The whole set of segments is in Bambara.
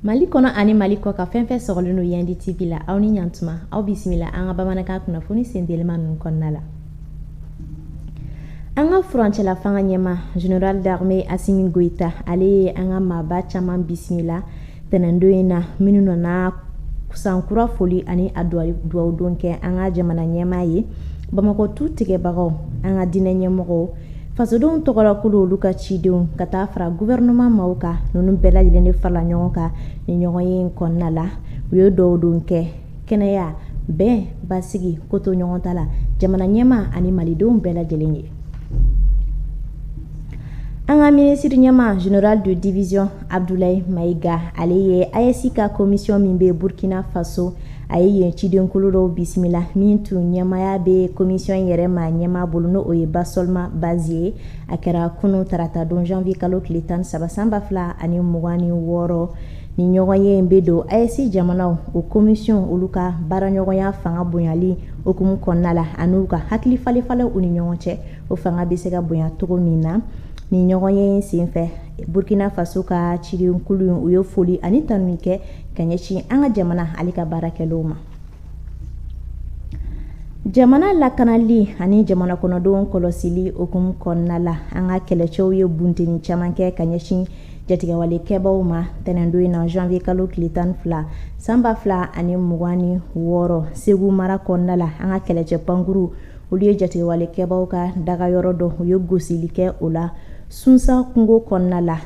mali kɔnɔ ani mali kɔkan fɛn fɛn sɔgɔlen don yandi tv la aw ni ɲantuma aw bisimila an ka bamanankan kunnafoni sentelima ninnu kɔnɔna la an ka furancɛla fanga ɲɛmaa general d'armée asimi goita ale ye an ka maaba caman bisimila tɛnɛndon in na minnu nana sankura foli ani a dugawudon kɛ an ka jamana ɲɛmaa ye bamakɔ tu tigɛbagaw an ka diinɛ ɲɛmɔgɔw fasodenw tɔgɔlakulu olu ka cidenw ka taa fara gofɛrɛnaman maaw kan ninnu bɛɛ lajɛlen de farala ɲɔgɔn kan ni ɲɔgɔnye in kɔnɔna la u ye dugawudon kɛ kɛnɛya bɛn basigi kotoɲɔgɔntala jamana ɲɛmaa ani malidenw bɛɛ lajɛlen ye an ka minisiri ɲɛmaa general de division abdulayi mayiga ale ye ayesi ka komisiyɔn min bɛ burkina faso a ye yen cidenkulu dɔ bisimila min tun ɲɛmaaya bɛ komisiyɔn yɛrɛma ɲɛmaa bolo n'o ye basolma bazie ye a kɛra kunu tarata don janvier kalo tile tan ni saba san ba fila ani mugan ni wɔɔrɔ Ni ɲɔgɔnye in bɛ don ayesi jamanaw o komisiyɔn olu ka baaraɲɔgɔnya fanga bonyali hukumu kɔnɔna la ani u ka hakilifalenfalen u ni ɲɔgɔn cɛ o fanga bɛ se ka bonya cogo min na ni ɲɔgɔnye in senfɛ burukina faso ka cikulu u ye foli ani tanuni kɛ ka ɲɛsin an ka jamana ale ka baara kɛ o ma jamana lakanali ani jamana kɔnɔdenw kɔlɔsili hukumu kɔnɔna la an ka kɛlɛcɛw ye bunteni caman kɛ ka ɲɛsin jatigɛwale kɛbaaw ma tɛnɛndo in na janvier kalo tile tan ni fila sanba fila ani mugan ni wɔɔrɔ segu mara kɔnɔna la an ka kɛlɛcɛ pankurun olu ye jatigɛwale kɛbaaw ka dagayɔrɔ dɔ u ye gosili kɛ o la sunsa kungo kɔnɔna la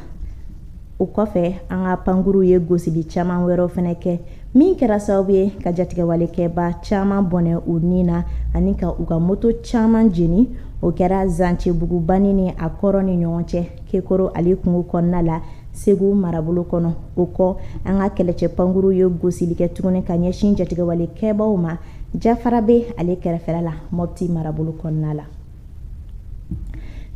o kɔfɛ an ka pankurunw ye gosili caman wɛrɛw fana kɛ min kɛra sababu ye ka jatigɛwalekɛbaa caman bɔnɛ u ni na ani ka u ka moto caman jeni o kɛra zancebugu banni ni a kɔrɔ ni ɲɔgɔn cɛ kekoro ale kungo kɔnɔna la segu marabolo kɔnɔ o kɔ an ka kɛlɛcɛ pankurun ye gosili kɛ tuguni ka ɲɛsin jatigɛwale kɛbaaw ma jafarabe ale kɛrɛfɛla la mɔpti marabolo kɔnɔna la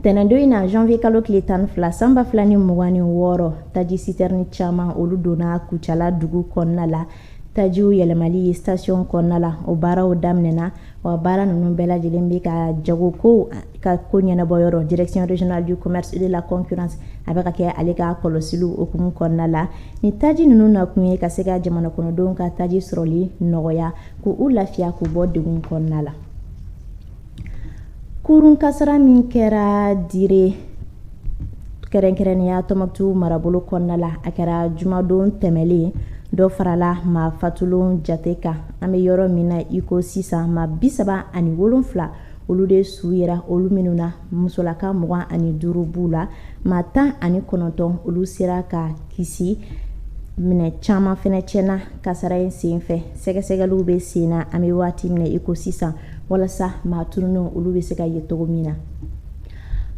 tɛnɛndo in na janvier kalo tile tan ni fila sanba fila ni mugan ni wɔɔrɔ taji sitɛrini caman olu donna kucala dugu kɔnɔna la tajiw yɛlɛmali ye station kɔnɔna la o baaraw daminɛna Wa baara ninnu bɛɛ lajɛlen bɛ ka jagokow ka ko ɲɛnabɔ yɔrɔ direction regionale du commerce et de la concurrence a bɛ ka kɛ ale ka kɔlɔsili hukumu kɔnɔna la ni taji ninnu nakun ye ka se ka jamana kɔnɔdenw ka taji sɔrɔli nɔgɔya k'u lafiya k'u bɔ degun kɔnɔna la kurun kasara min kɛra dire kɛrɛnkɛrɛnya tɔnbukutu marabolo kɔnɔna la a kɛra jumadon tɛmɛnlen dɔ farala maa fatulenw jate kan an bɛ yɔrɔ min na iko sisan maa bi saba ani wolonfila olu de su yera olu minnu na musolaka mugan ani duuru b'u la maa tan ani kɔnɔntɔn olu sera ka kisi minɛn caman fana tiɲɛna kasara in sen fɛ sɛgɛsɛgɛliw bɛ sen na an bɛ waati min na iko sisan walasa maa tununnenw olu bɛ se ka ye cogo min na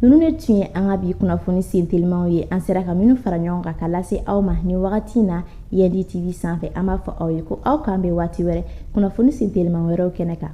ninnu de tun ye an ka bi kunnafoni sen telimaw ye an sera ka minnu fara ɲɔgɔn kan ka lase aw ma nin wagati in na yandi tv sanfɛ an b'a fɔ aw ye ko aw k'an bɛn waati wɛrɛ kunnafoni sen telima wɛrɛw kɛnɛ kan